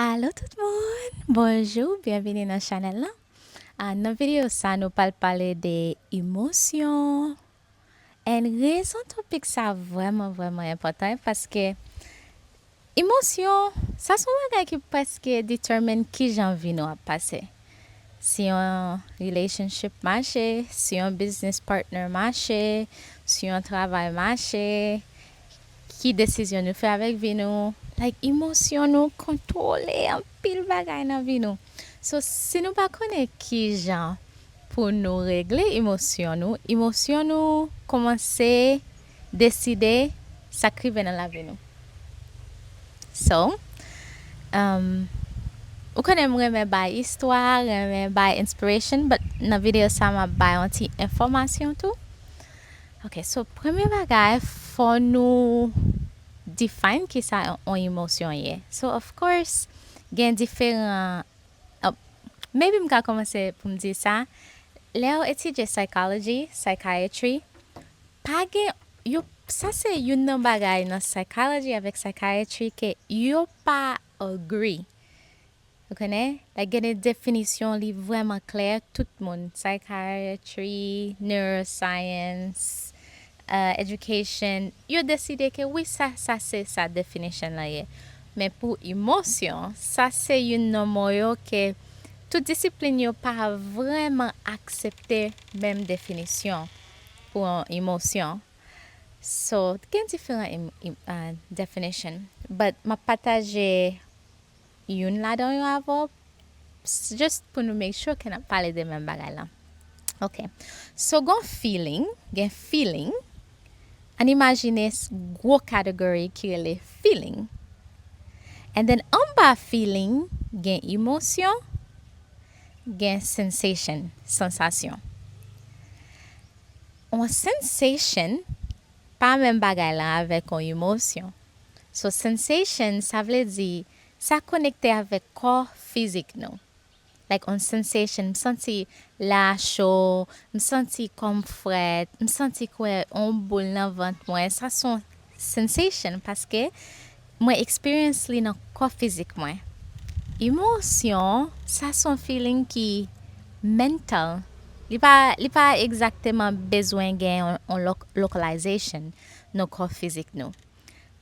Alo tout moun! Bonjou, byenvini nan chanèl lan. Ah, nan videyo sa nou pral pale de emosyon. And rezon topik sa vrèman vrèman enpòtan paske emosyon sa son bagay ki preske determine kijan vi nou ap pase. Si yon relationship mache, si yon business partner mache, si yon travay mache, Ki desizyon nou fè avèk vi nou, like emosyon nou kontwole anpil bagay nan vi nou. So si nou pa konnen kijan pou nou regle emosyon nou, emosyon nou kòmanse deside sa k rive nan lavi nou. So umm ou konnen m renmen bay istwa, renmen bay inspiration but nan video sa map bay yon ti enfòmasyon tou. Ok so premye bagay fò nou define kisa yon emosyon ye so of course gen diferan maybe m ka kòmanse pou m di sa lèw etidye psychology, psychiatry pa gen yo sa se youn nan bagay nan psychology avèk psychiatry ke yo pa Agree. Ou konnen, lè gen de definisyon li vrèman klè, tout moun, psychiatry, neuroscience, education, yo deside ke wi sa, sa se sa definition lan ye. Men pou emosyon, sa se youn nan mo yo ke tout disiplin yo pa vrèman aksepte menm definisyon pou yon emosyon. So gen diferan definition but map pataje youn ladan yo avè w just pou nou make sure ke nap pale de menm bagay la. Ok so gon feeling gen feeling ann imajine gwo category ki rele feeling and then anba feeling gen emosyon gen sensation sansasyon. On sensation pa menm bagay lan avèk on emotion. So sensation sa vle di sa konekte avèk kò fizik nou. Like on sensation m santi la a cho, m santi kò m frèt, m santi kwè on boul nan vant mwen, sa son. Sensation paske mwen experience li nan kò fizik mwen. Emotion sa son feeling ki mental li pa li pa exactement bezwen gen yon localization nan kò fizik nou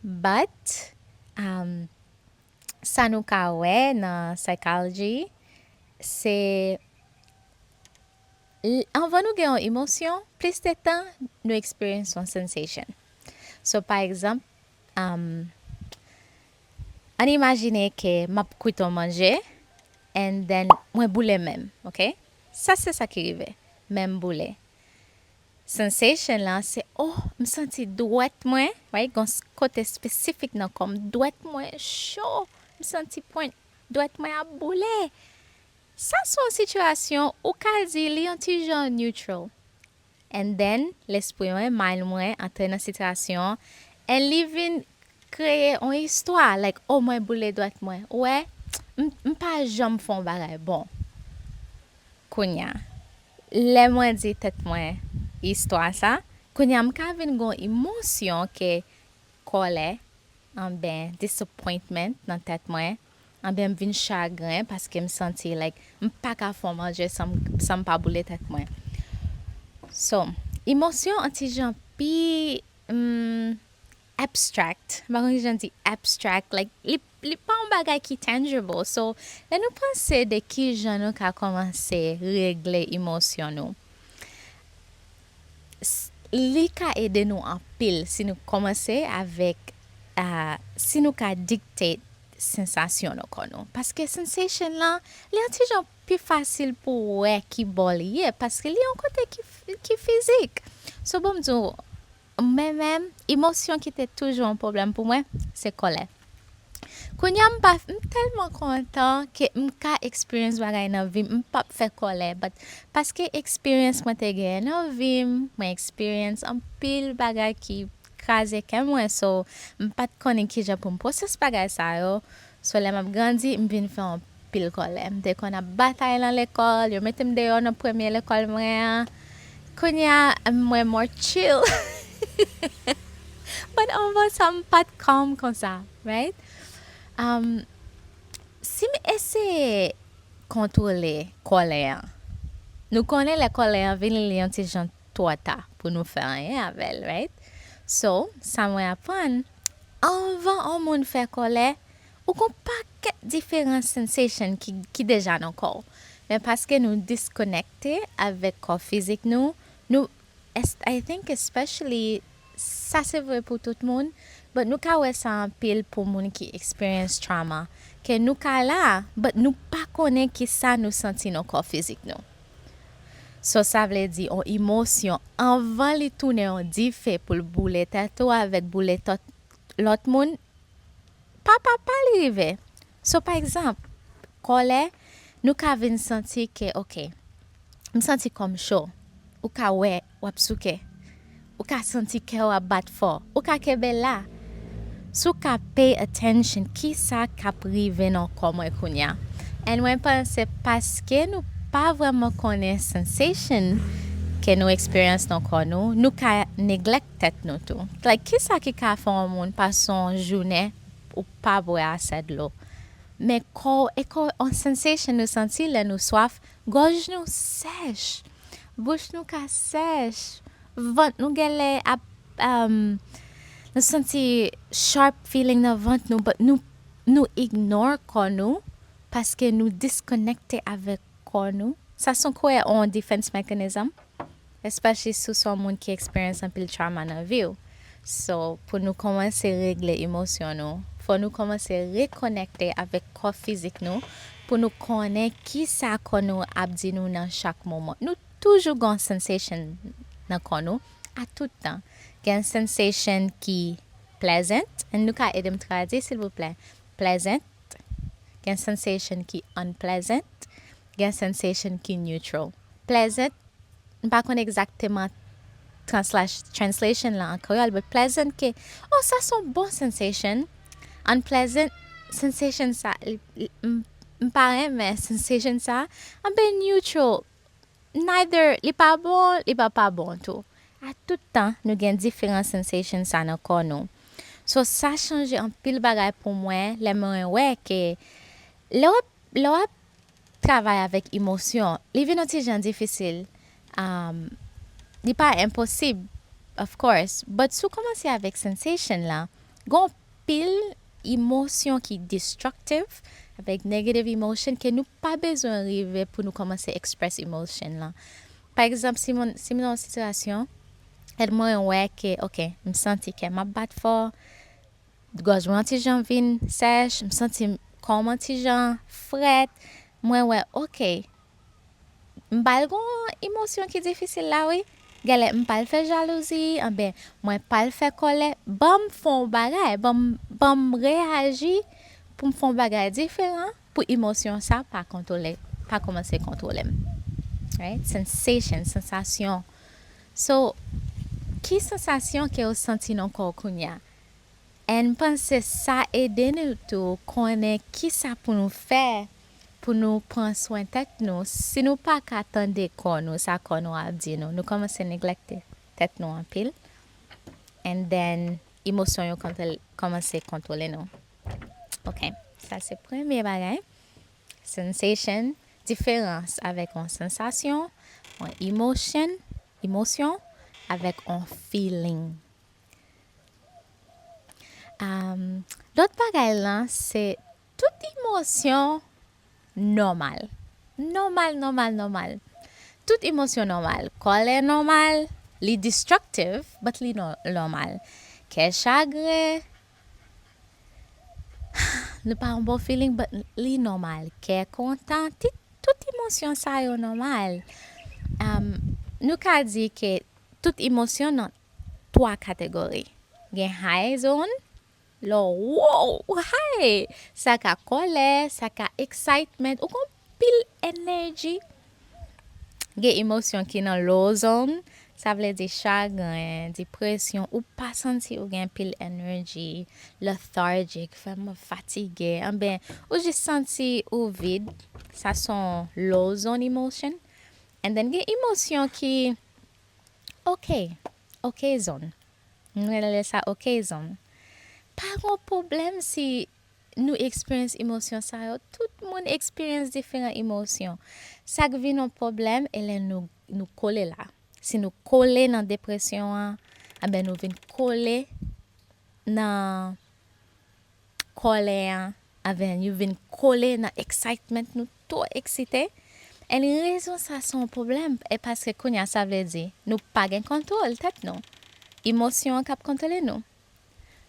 but um sa nou ka wè nan psychology se L, Anvan nou gen yon emosyon, plis de tan nou experience yon sensation. So pa egzanp, um, ann imajine ke m ap kwit yon manje and then mwen boule men m, ok? Sa se sa ki rive, men m boule. Sensation lan se, oh, m santi dwèt mwen, right, gon kote spesifik nan kò m, dwèt mwen cho, m santi pwent dwèt mwen ap boule. Sa sou yon situation ou ka di li yon ti jan neutral. And then lespri mwen, mind mwen antre nan situation an and li vin kreye yon istwa like oh mwen boule dwèt mwen ou wè m m pa janm fè yon bagay bon. Kounya lè mwen di tèt mwen istwa sa kounya m ka vin gon imosyon ke kòlè anben disappointment nan tèt mwen Anben m vin chagren paske m santi like m paka fon manje san m pa boule tèt mwen. So, emosyon an ti jan pi umm abstract, m pa konn ki jan di abstract like li li pa yon bagay ki tangible so lè nou panse de ki jan nou ka kòmanse regle emosyon nou S, Li ka ede nou anpil si nou kòmanse avèk a si nou ka dictate sensasyon nan kò nou. Paske sensation lan, li yon ti jan pi fasil pou w wè ki bò li ye paske li yon kote ki ki fizik. So bon m di w, mwen menm, emosyon ki te toujou yon pwoblèm pou mwen, se kòlè. Kounya m pa m telman kontan ke m ka experience bagay nan vim m pap fè kòlè but paske experience mwen te genyen nan vim mwen experience anpil bagay ki kraze kè mwen so m pat konnen kijan pou m process bagay sa yo so lè map grandi m vin fè yon pil kòlè. M te konn ap batay lan lekòl, yo mete m deyò nan premye lekòl mwen an. Kounye a, m mwen mò chill. But anvan sa m pa t calm konsa, right? Umm, si m eseye kontwole kòlè an, nou konnen lè kòlè an vini li yon ti jan twò ta pou nou fè anyen avè l, right? So, sa mwen aprann, anvan on moun fè kòlè, Ou gon pakèt diferan sensation ki ki deja nan kòw men paske nou disconnecte avèk kò fizik nou nou est I think especially sa se vre pou tout moun but nou ka wè sa anpil pou moun ki experience trauma ke nou ka la but nou pa konnen kisa nou santi nan kò fizik nou so sa vle di on imosyon anvan li tounen on dife poul boule tèt ou avèk boule tòt lòt moun pa pa pa li rive. So pa egzanp, kòlè, nou ka vin santi ke ok, m santi kò m cho, ou ka wè w ap souke, ou ka santi kè w ap bat fò, ou ka kenbe la. Si w ka pay attention kisa k ap rive nan kò mwen kounya? And mwen panse paske nou pa vrèman konnen sensation ke nou eksperyans nan kò nou, nou ka neglect. tèt nou tou like kisa ki ka fè yon moun pase yon jounen ou pa bwè asè dlo men kòw eko yon sensation nou santi lè nou swaf gòj nou sèch bouch nou ka sèch vant nou gèlè ap umm nou santi sharp feeling nan vant nou but nou nou ignore kò nou paske nou disconnecte avèk kò nou sa son kwe yon defense mechanism. It's pa jis sou son moun ki experience anpil trauma nan viw so pou nou komanse regle emosyon nou fò nou komanse rekonekte avèk kò fizik nou pou nou konnen kisa kò nou ap di nou nan chak moman nou toujou gon sensation nan kò nou a tout tan gen sensation ki pleasant and nou ka edem tradwi silvouplè pleasant gen sensation ki unpleasant gen sensation ki neutral. Pleasant, m pa konn egzakteman translation lan an kreyòl, but pleasant ke, oh sa son bon sensation, unpleasant, sensation sa, m pa renmen sensation sa, anpe neutral, neither, li pa bon, li pa pa bon tou. A tout tan, nou gen diferan sensation sa nan kò nou. So sa chanje anpil bagay pou mwen lè mwen wè ke lè w ap, lè w ap. Travay avèk emosyon. Li vin yon ti jan difisil. Li pa enposib, of course, but si w kòmanse avèk sensation lan, gen yon pil emosyon ki destructive, avèk negative emotion ke nou pa bezwen rive pou nou kòmanse express emotion lan. Pa egzanp, si m nan yon sitiyasyon, e mwen wè ke, ok, m santi kè m ap bat fò, Gòj mwen an ti jan vin sèch, m santi kòm an ti jan frèt, mwen wè ok m pral gen yon emosyon ki difisil la wi, gèlè m pral fè jalouzi anben mwen pral fè kòlè, banm fè yon bagay, banm banm reyaji pou m fè yon bagay diferan pou emosyon sa pa kontwole pa kòmanse kontwole m right, sensation, sansasyon so ki sansasyon ke ou santi nan kò w kounya? N panse sa ede nou tou konnen kisa pou nou fè pou nou pran swen tèt nou si nou pa ka tande kò nou sa kò nou ap di nou nou kòmanse neglekte tèt nou anpil and then emosyon yo kòmanse kontwole nou ok sa se premye bagay sensation diferans avèk on sensasyon on emosyon emosyon avèk on feeling. Lòt bagay lan se tout emosyon nòmal. Nòmal, nòmal, nòmal. Tout emosyon nòmal. Kòlè nòmal. Li destructive, but li nòmal. Kè chagre. Nou pa yon bon feeling, but li nòmal. Kè kontan. Tout emosyon sa yo nòmal. Nou ka di ke tout emosyon 3 kategori. Gen high zone, lè w woww ou high! Sa ka kòlè, sa ka excitement, ou gen yon pil energy. Gen emosyon ki nan low zone, sa vle di chagren, depresyon, ou pa santi ou gen pil energy, lethargic, vrèman fatige, anben ou jis santi ou vid, sa son low zone emotion. And then gen emosyon ki. Ok. Okazon. M rele sa okazon. Pa gon pwoblèm si nou eksperyans emosyon sa yo. Tout moun eksperyans diferan emosyon. Sa k vin yon pwoblèm e lè nou kole la. Si nou kole nan depresyon an, anben nou vin kole nan Kòlè an Avenue vin kole nan excitement nou two eksite and rezon sa se yon pwoblèm e paske kounya sa vle di nou pa gen kontwol tèt nou emosyon an kap kontwole nou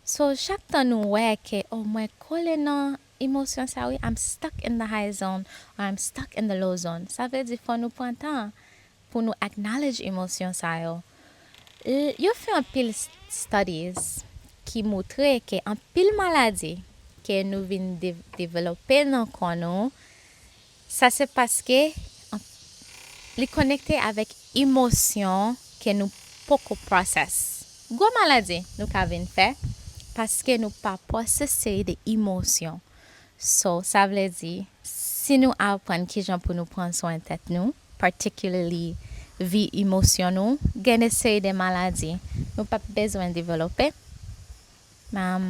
so chak tan nou wè ke oh mwen kole nan emosyon sa wi I'm stuck in the high zone or I'm stuck in the low zone sa vle di fò nou pran tan pou nou acknowledge emosyon sa yo l yo fè anpil studies ki moutre ke anpil maladi ke nou vin develope nan kò nou sa se paske li konekte avèk emosyon ke nou poko process gwo maladi nou ka vin fè paske nou pa process seri de emosyon so sa vle di Si nou aprann kijan pou nou pran swen tèt nou, particularly vi emosyon nou, gen de seri de maladi nou pap bezwen develope. Am,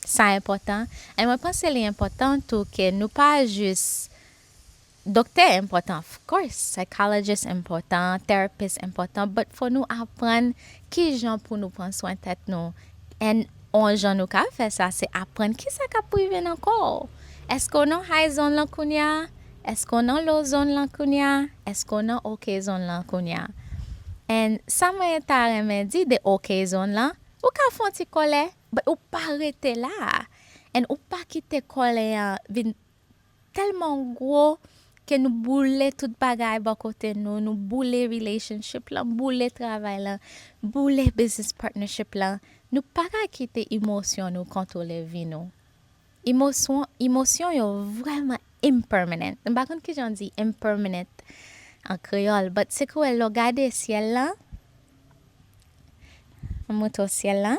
sa enpòtan. And mwen panse li enpòtan tou ke nou pa jis, doktè enpòtan of course, psychologist enpòtan, therapist enpòtan, but fò nou aprann kijan pou nou pran swen tèt nou, And on jan nou ka fè sa se aprann kisa kap prive nan kò w. Eske w nan high zone lan kounya? Eske w nan low zone lan kounya? Eske w nan ok zone lan kounya? And sa mwen ta renmen di de ok zone lan, ou ka fon ti kòlè but ou pa rete la. And ou pa kite kòlè an vin Telman gwo ke nou boule tout bagay bò kote nou, nou boule relationship lan, boule travay lan, boule business partnership lan, nou pa ka kite emosyon nou kontwole vi nou. Emosyon, emosyon yo vrèman impermanent. M pa konn kijan w di impermanent an kreyòl, but se kouwè lè w gade syèl lan, m montre w syèl lan.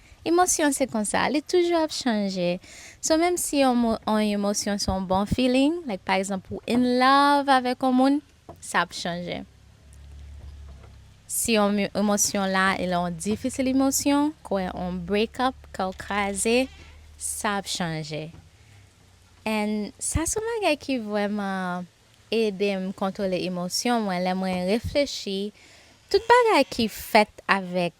Emosyon se konsa, li toujou ap chanje. So menm si yon yon emosyon se yon bon feeling, like pa egzanp ou in love avèk yon moun, sa ap chanje. Si yon emosyon la e lè yon difisil emosyon, kwè yon break up, kè w kraze, sa ap chanje. And sa se yon bagay ki vrèman ede m kontwole emosyon mwen lè mwen reflechi tout bagay ki fèt avèk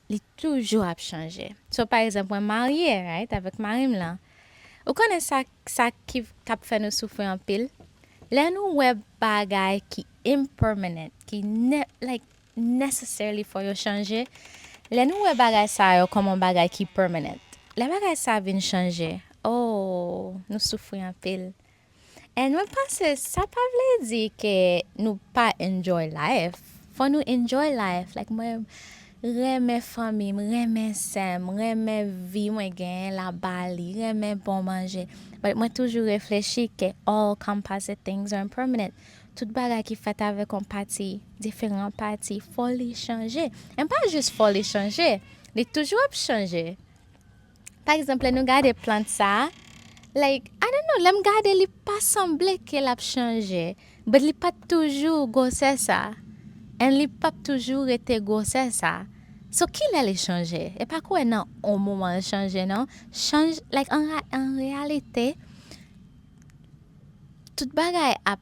Li toujou ap chanje. So pa egzanp mwen marye right avèk marim lan. Ou konnen sa sa ki kap fè nou soufri anpil? Lè nou wè bagay ki impermanent ki ne like necessarily fò yo chanje, lè nou wè bagay sa yo kòm on bagay ki permanent. Lè bagay sa vin chanje ooh nou soufri anpil. And mwen panse sa pa vle di ke nou pa enjoy life. Fò nou enjoy life like mwen renmen fanmi m, renmen sè m, renmen vi mwen genyen la Bali, renmen bon manje. But mwen toujou reflechi ke all composite things are impermanent. Tout bagay ki fèt avèk yon pati, diferan pati, fò li chanje. And pa jis fò li chanje, li toujou ap chanje. Pa egzanp lè nou gade plant sa like I don't know lèm gade li pa sanble ke lap chanje but li pat toujou gwosè sa and li pap toujou rete gwosè sa so kilè li chanje e pa kwè nan on moman l chanje nan chanj like an reyalite tout bagay ap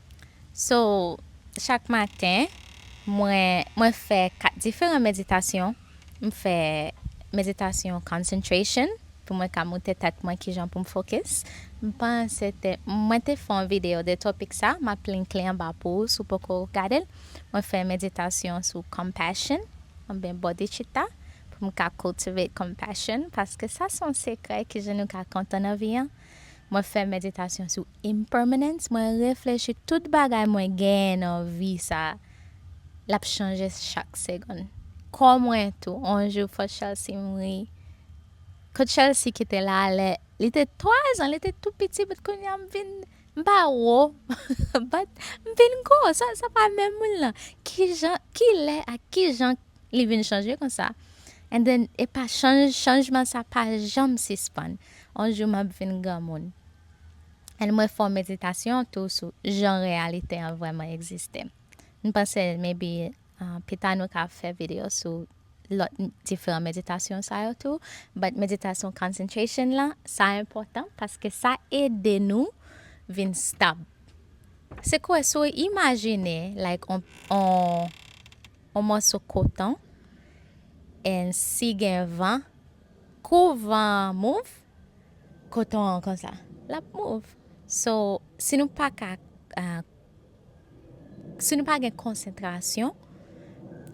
So chak maten mwen mwen fè 4 diferan meditasyon m fè meditasyon concentration pou mwen ka moute tèt mwen kijan poum focus m panse te mwen te fè yon video de topic sa map linkl anba pou ou si w poko gade l mwen fè meditasyon sou compassion oubyen bodhicitta pou m ka cultivate compassion paske sa son sekrè kijan nou ka kontan nan vi an. Mwen fè meditasyon sou impermanence, mwen reflechi tout bagay mwen genyen nan vi sa lap chanje chak segonn. Kò mwen tou, on jou fòt Chelsea mouri. Kot Chelsea ki te la lè li te 3 zan, li te tou piti but kounye a m vin m pa wo but m vin gwo, sa sa pa menm moun lan. Kijan, kilè ak kijan li vin chanje konsa and then epa chanj chanjman sa pa janm sispann. On jou map vin granmoun. N mwen fè w meditasyon tou sou jan reyalite an vrèman egziste. N panse maybe pita nou ka fè video sou lòt diferan meditasyon sa yo tou but meditasyon concentration la sa enpòtan paske sa ede nou vin stab. Se kouwè si w imajine like on on mòso koton and si gen van. Kou van an move, koton an konsa, l ap move. So, si nou pa ka, si nou pa gen konsantrasyon,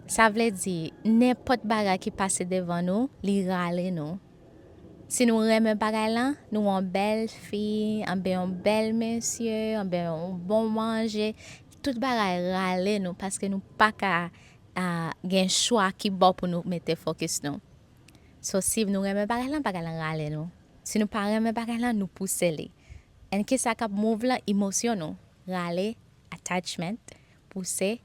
sa vle di, nenpòt bagay ki pase devan nou, li rale nou. Si nou renmen bagay lan, nou wè yon bèl fi, anben yon bèl mesye, anben yon bon manje, tout bagay rale nou paske nou pa ka gen chwa ki bon pou nou mete fokis nou. So siv nou renmen bagay lan bagay lan rale nou si nou pa renmen bagay lan nou pouse li and kisa kap move lan imosyon nou rale attachment pouse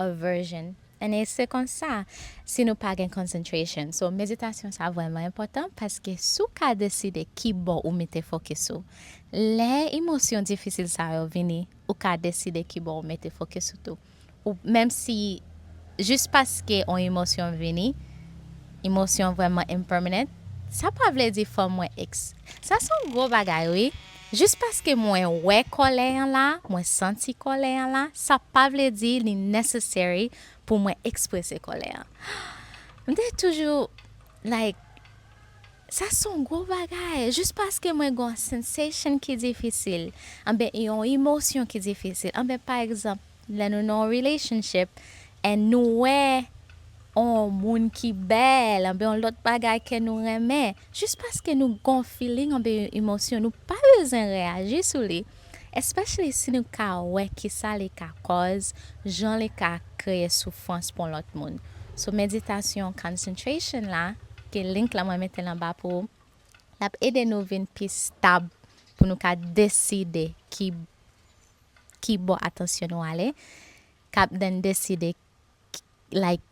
aversion and e se konsa si nou pa gen concentration so meditasyon sa vreman enpotan paske sou ka deside kibò ou mete fokis ou lè imosyon difisil sa yo vini ou ka deside kibò ou mete fokis ou tou. Ou p menm si jis paske on emosyon vini, emosyon vrèman impermanent, sa pa vle di fò mwen ex. Sa s on gwo bagay wi. Jis paske mwen wè kòlè an la, mwen santi kòlè an la, sa pa vle di li necessary pou mwen eksprese kòlè an. M te toujou like Sa son gwo bagay! Jis paske mwen gen yon sensation ki difisil, anben yon emosyon ki difisil, anben pa egzanp lè nou nan yon relationship and nou wè yon moun ki bèl anben yon lòt bagay ke nou renmen, jis paske nou gen yon feeling anben yon emosyon nou pa bezwen reyaji sou li, Especially si nou ka wè kisa li ka kòz, jan li ka kreye soufrans pou yon lòt moun. So meditasyon concentration la, ki link la mwen metel anba pou ou, lap ede nou vin pi stab pou nou ka deside ki ki bò atansyon nou ale, kap den deside like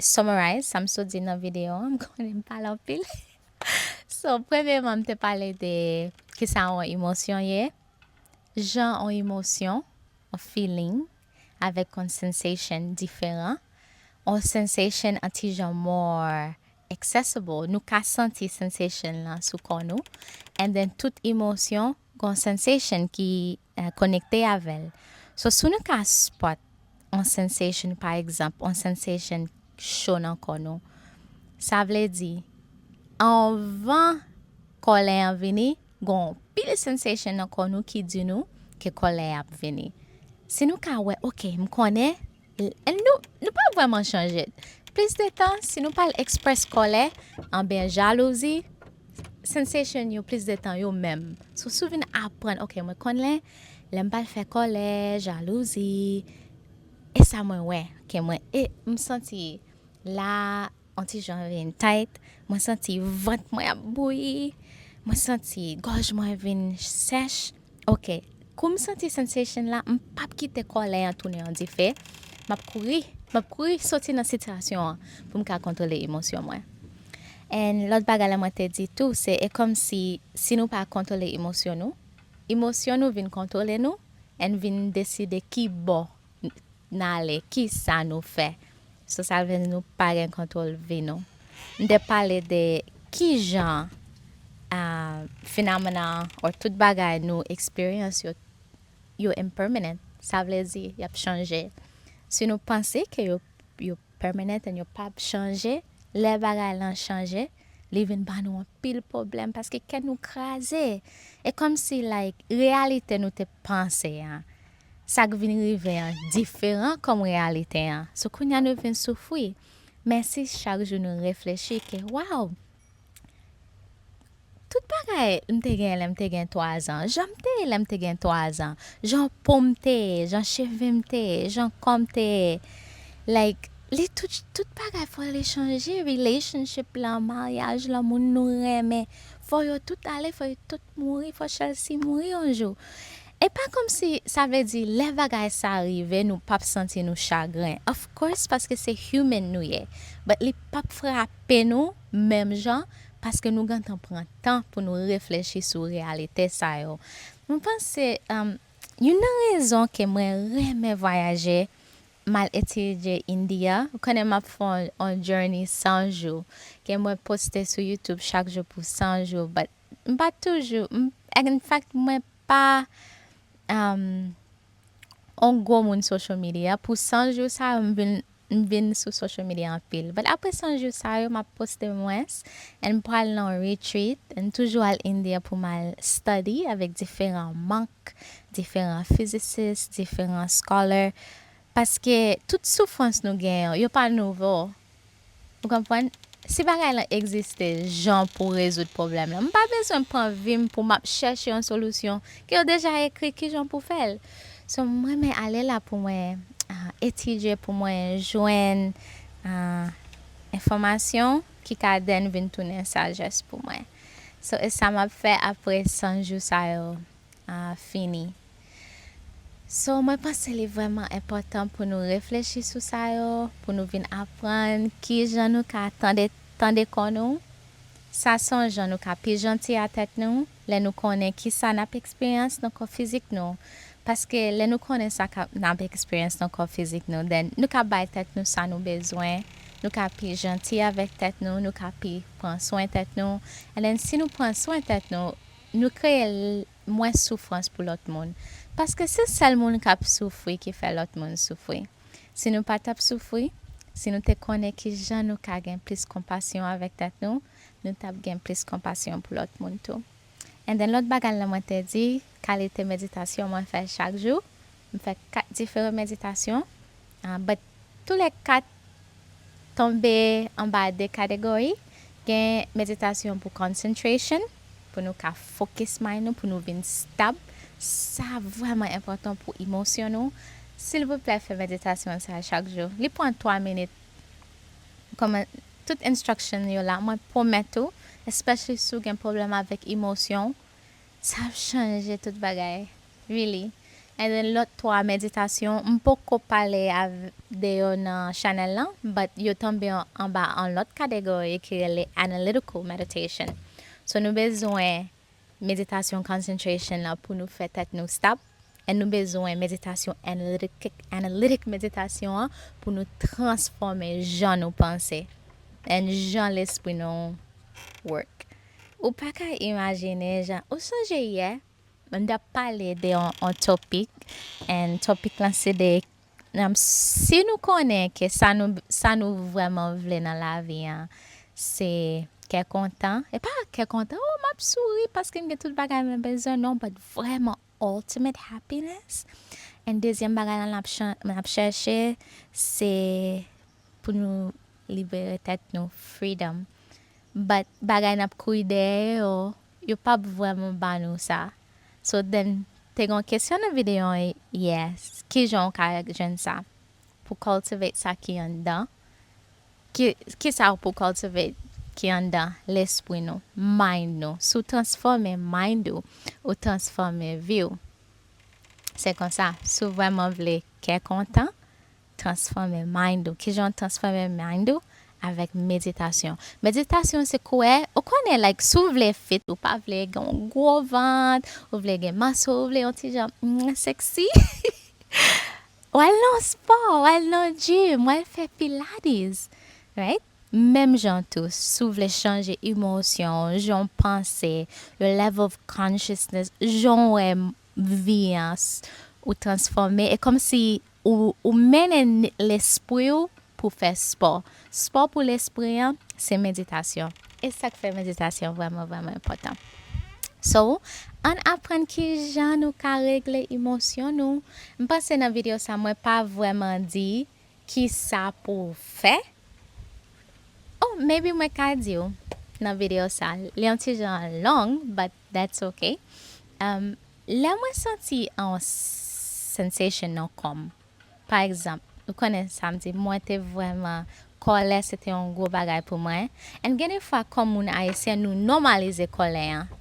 Summarize sa m sot di nan videyo an, m konnen m pale anpil. So, premyeman m te pale de ki sa yon emosyon ye, jan yon emosyon, yon feeling, avèk yon sensation diferan. Yon sensation an ti jan more accessible, nou ka santi sensation lan sou kò nou. And then tout emosyon gen yon sensation ki. konekte avè l so si nou ka spot on sensation pa egzanp on sensation cho nan kò nou sa vle di anvan kòlè an vini gon on pil sensation nan kò nou ki di nou ke kòlè ap vini si nou ka wè ok m konnen Nou pa vrèman chanje. Plis de tan, si nou pa al eksprès kòlè, anben jalouzi, sensation yo plis de tan yo menm. So si w vin aprann, ok mwen konnen lè m pa al fè kòlè, jalouzi, e sa mwen wè ke mwen e m santi la. On ti jan vin tight, mwen santi vant mwen ap bouyi, mwen santi gòj mwen vin sèch. Ok, kou m santi sensation la, m p ap kite kòlè an tounen yon dife, m ap kouri, m ap kouri soti nan sitiyasyon an pou m ka kontwole emosyon mwen. And lòt bagay la mwen te di tou se e kòm si, si nou pa kontwole emosyon nou, emosyon nou vin kontwole nou and vin deside ki bò n ale ki sa nou fè so sa vle di nou pa gen kontwòl vi nou m te pale de ki jan finamena or tout bagay nou eksperyans yo yo impermanent sa vle di y ap chanje si nou panse ke yo permanent and yo p ap chanje lè bagay lan chanje Li vin ba nou anpil pwoblèm paske kè nou kraze. E kòm si like reyalite nou te panse an, sa k vin rive an diferan kòm reyalite an. So kounye a nou vin soufri. Men si chak jou nou reflechi ke waw, tout bagay m te genyen lè m te gen 3 zan, jan m te ye lè m te gen 3 zan, jan po m te ye, jan cheve m te ye, jan kò m te ye. Like. Li tout tout bagay fò li chanje relationship lan maryaj lan moun nou renmen fò yo tout ale fò yo tout mouri fò Chelsea mouri yon jou e pa kòmsi sa vle di lè bagay sa rive nou pap santi nou chagren of course paske se human nou ye but li pap frape nou menm jan paske nou gentan pran tan pou nou reflechi sou reyalite sa yo mwen panse youn nan rezon ke mwen renmen vwayaje Mal etidye India, ou konnen map fè on journey 100 jou ke mwen poste sou YouTube chak jou pou 100 jou but m pa toujou m in fact mwen pa um on gwo moun social media pou 100 jou sa yo m vin m vin sou social media anpil but apre 100 jou sa yo map poste mwens and m pral nan on retreat m toujou al India pou mal study avèk diferan monk diferan fizisis, diferan scholar, paske tout soufrans nou gen yo, yo pa nouvo. Ou konprann? Si bagay lan egziste jan pou rezoud pwoblèm lan, m pa bezwen pran vi m pou m ap chèche yon solisyon ke yo deja ekri ki jan pou fè l. So m renmen ale la pou mwen etidye, pou mwen jwenn enfòmasyon ki ka then vin tounen sajès pou mwen. So e sa m ap fè apre 100 jou sa yo. a fini. So mwen panse li vrèman enpòtan pou nou reflechi sou sa yo, pou nou vin aprann kijan nou ka tande tande kò nou. Sa son jan nou ka pi janti a tèt nou lè nou konnen kisa nap eksperyans nan kò fizik nou paske lè nou konnen sa ka nap eksperyans nan kò fizik nou then nou ka bay tèt nou sa nou bezwen, nou ka pi janti avèk tèt nou, nou ka pi pran swen tèt nou and then si nou pran swen tèt nou Nou kreye l mwens soufrans pou lòt moun. Paske se sèl moun k ap soufri ki fè lòt moun soufri. Si nou pa t ap soufri, si nou te konnen ki jan nou ka gen plis konpasyon avèk tèt nou, nou t ap gen plis konpasyon pou lòt moun tou. Anden lòt bagay la mwen te di, kalite meditasyon mwen fè chak jou, M fè 4 diferan meditasyon, but tou lè 4 tonbe anba 2 kategori, gen meditasyon pou concentration, pou nou ka focus mind nou, pou nou vin stab, sa vrèman enpòtan pou emosyon nou, silvouplè fè meditasyon sa chak jou, li pran 3 minit, kòman tout instruction yo la, mwen pwomèt ou, especially si w gen pwoblèm avèk emosyonw, Sa ap chanje tout bagay. Really. And then lòt 3 meditasyon m poko pale de yo nan chanèl lan but yo tonbe anba on lòt kategori ki rele analytical meditation. So nou bezwen meditasyon concentration lan pou nou fè tèt nou stop. And nou bezwen meditasyon analytic meditasyon an pou nou transfòme jan nou panse and jan lespri nou work ou paka imajine jan ou sonje yè m tap pale de yon topik and topik lan se de Si nou konnen ke sa nou vrèman vle nan lavi an se kè kontan, e pa kè kontan, oh map souri paske m gen tout bagay mwen bezwen, non but vrèman ultimate happiness, and dezyèm bagay la nap chèche se pou nou libere tèt nou, freedom. But bagay nap kouri dèyè yo, yo pap vrèman ba nou sa so then te gon kesyon nan video an yè kijan ou ka jwenn sa pou cultivate sa ki anndan kisa pou cultivate ki anndan lespri nou mind nou si w transfòme mind ou ou transfòme vi w se konsa si w vrèman vle kè kontan. Transfòme mind ou. Kijan w transfòme mind ou? Avèk meditasyon. Meditasyon se kouwè, ou konnen like si w vle fit, ou pa vle gen yon gwo vant, ou vle gen mas ou vle yon ti jan mwen sexy w al nan yon spò, w al nan yon gym, w al fè pilates right. Menm jan tou si w vle chanje emosyon w, jan w panse, your level of consciousness, jan w wè vi an, ou transfòme e kòmsi Ou mennen lespri ou pou fè spò. Spò pou lespri an se meditasyon. E sa k fè meditasyon vrèman vrèman enpòtan? So, ann aprann ki jan nou ka regle emosyon nou. M panse nan videyo sa mwen pa vrèman di ki sa pou w fè. Oh, maybe mwen ka di w nan videyo sa. Li yon ti jan long, but That's ok um lè mwen santi on sensation nan kòm pa egzanp ou konnen sam di mwen te vrèman kòlè se te on gwo bagay pou mwen and gen de fwa kòm moun ayisyen nou nòmalize kòlè an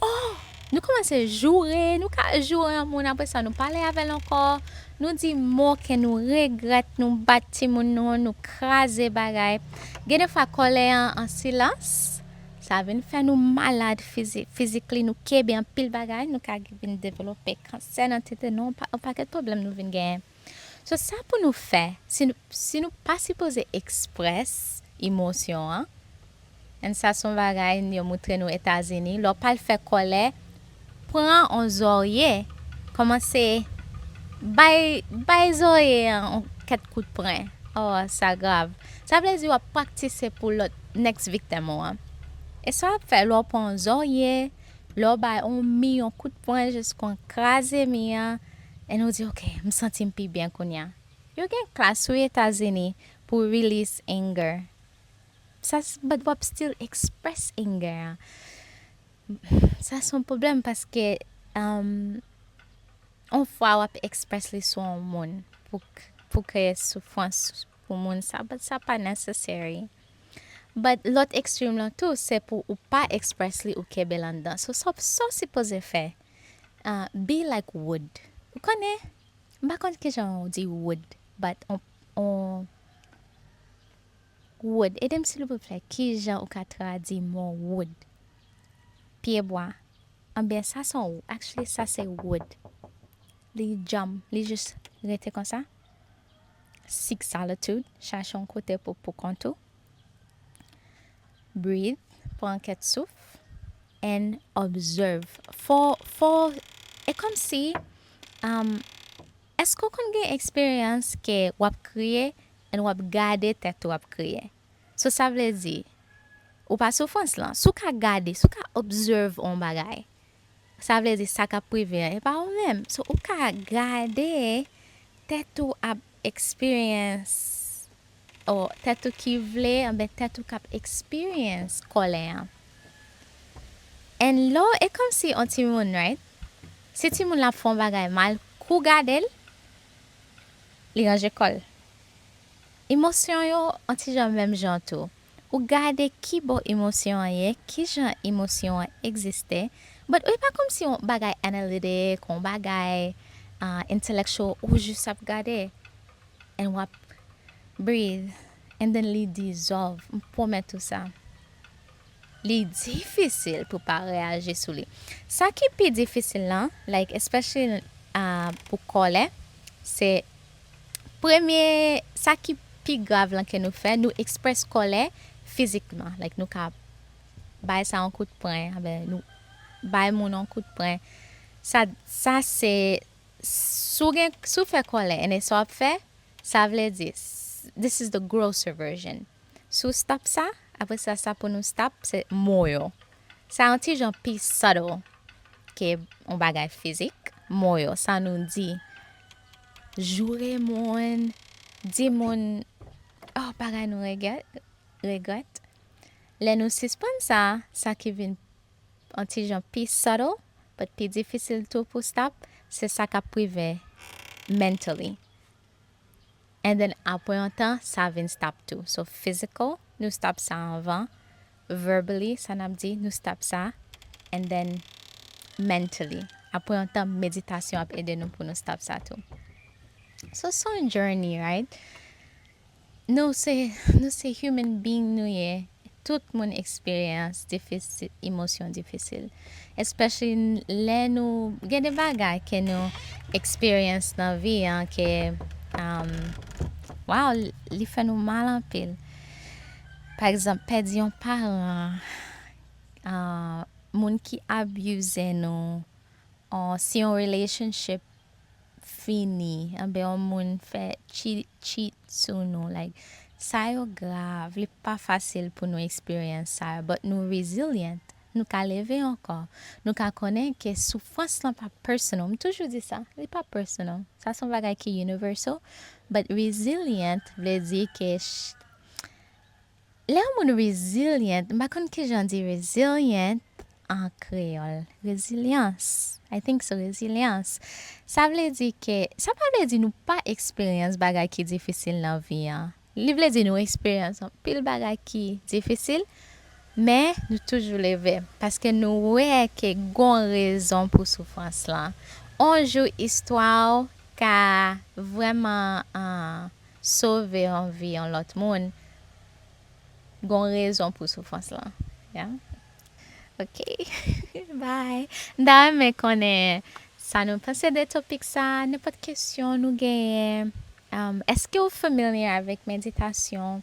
oh nou kòmanse joure nou ka joure yon moun aprè sa nou pale avèl ankò nou di mo ke nou regrèt nou bat timoun nou nou kraze bagay gen de fwa kòlè an an silans Sa vin fè nou malad fizik, physically nou kebe anpil bagay, nou ka vin develope kansè nan tete nou, yon pakèt pwoblèm nou vin genyen. So sa pou nou fè, si nou pa sipoze express emosyon an, and sa son bagay yo moutre nou Etazini, lè w pa al fè kòlè, Pran on zòrye, kòmanse bay bay zòrye an on kèt kout pren. Oh sa grav. Sa vle di wap praktise pou lòt next victim ou an. E sa wap fè lè w pran on zòrye, lè w bay on mi on kout pwen jiskon kraze mi an, and ou di ok m santi m pi byen kounya. Yo gen klas wi Etazini pou release anger. Sa se but wap still express anger an. Sa son pwoblèm paske on fwa wap expressly sou on moun pou kreye soufrans pou moun sa but sa pa necessary. But lòt extreme lan tou se pou ou pa expressly ou kenbel anndan. So sa w sipoze fè be like wood ou konnen m pa konn kijan w di wood but on. Wood, ede m silvouplè, ki jan ou ka tradi mo wood? Pyebwa, Anben, sa son w, actually sa se wood. Li djanm, li jis rete konsa. Seek solitude, chache yon kote pou pou kont ou. Breathe, pran kèt souf. And observe, fò, fò, e kòmsi, um. Èske w konn gen eksperyans ke w ap kriye and w ap gade tèt ou ap kriye? So sa vle di, ou pa soufrans lan. Si w ka gade, si w ka observe on bagay, sa vle di sa k ap rive an e pa ou menm. So ou ka gade tèt ou ap experience Oh tèt ou ki vle anben tèt ou kap experience kòlè an and lè w e kòmsi on timoun right si timoun lan ap fè yon bagay mal kou gade l li ranje kò l emosyon yo on ti jan menm jan tou ou gade kibò emosyon an ye kijan emosyon an egziste but ou e pa kòmsi yon bagay analytic yon bagay intellectual ou jus ap gade And wap breathe and then li dissolve m pwomèt ou sa. Li difisil pou pa reyaji sou li. Sa ki pi difisil lan like especially pou kòlè se premye sa ki pi grav lan ke nou fè nou express kòlè fizikman like nou ka bay sa yon kout pwen, nou bay moun yon kout pwen sa se Si w gen, si w fè kòlè and e sa w ap fè, sa vle di, this is the grosser version. Si w stop sa, apre sa sa pou nou stop se mo yo. Sa yon ti jan pi subtle ke yon bagay fizik. Mo yo, sa nou di. Joure moun, di moun, oh bagay nou regèt, regrèt. Lè nou sispann sa, sa ki vin. on ti jan pi subtle but pi difisil tou pou stop se sa kap rive mentally and then apre on tan sa vin stop tou so physical nou stop sa anvan verbally sa nap di nou stop sa and then mentally apre on tan meditasyon ap ede nou pou nou stop sa tou so son journey right. Nou se nou se human being nou ye tout moun experience difisil emosyon difisil especially lè nou gen de bagay ke nou experience nan vi an ke waww li fè nou mal anpil pa egzanp pèdi yon paran moun ki abuse nou or si yon relationship fini anben yon moun fè cheat sou nou like sa yo grav li pa fasil pou nou experience sa yo but nou resilient nou ka leve ankò nou ka konnen ke soufrans lan pa personal m toujou di sa li pa personal sa son bagay ki universal but resilient vle di ke Lè yon moun resilient, m pa konn kijan di resilient an kreyòl. Rezilyans, I think so, rezilyans. Sa vle di ke, sa pa vle di nou pa eksperyans bagay ki difisil nan vi an. Li vle di nou eksperyans anpil bagay ki difisil, men nou toujou leve. Paske nou wè ke gon rezon pou soufrans lan. On jou istwa ou ka vrèman. sove yon vi yon lòt moun gon rezon pou soufrans lan yeah ok bye m ta renmen konnen sa nou panse de topik sa nenpòt kesyon nou genyen èske ou familiar avèk meditasyon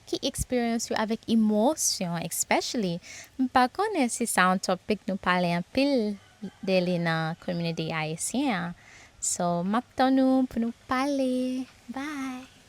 ki eksperyans yo avèk emosyon especially m pa konnen si sa yon topic nou pale anpil de li nan community ayisyen an so map tann nou pou nou pale bye.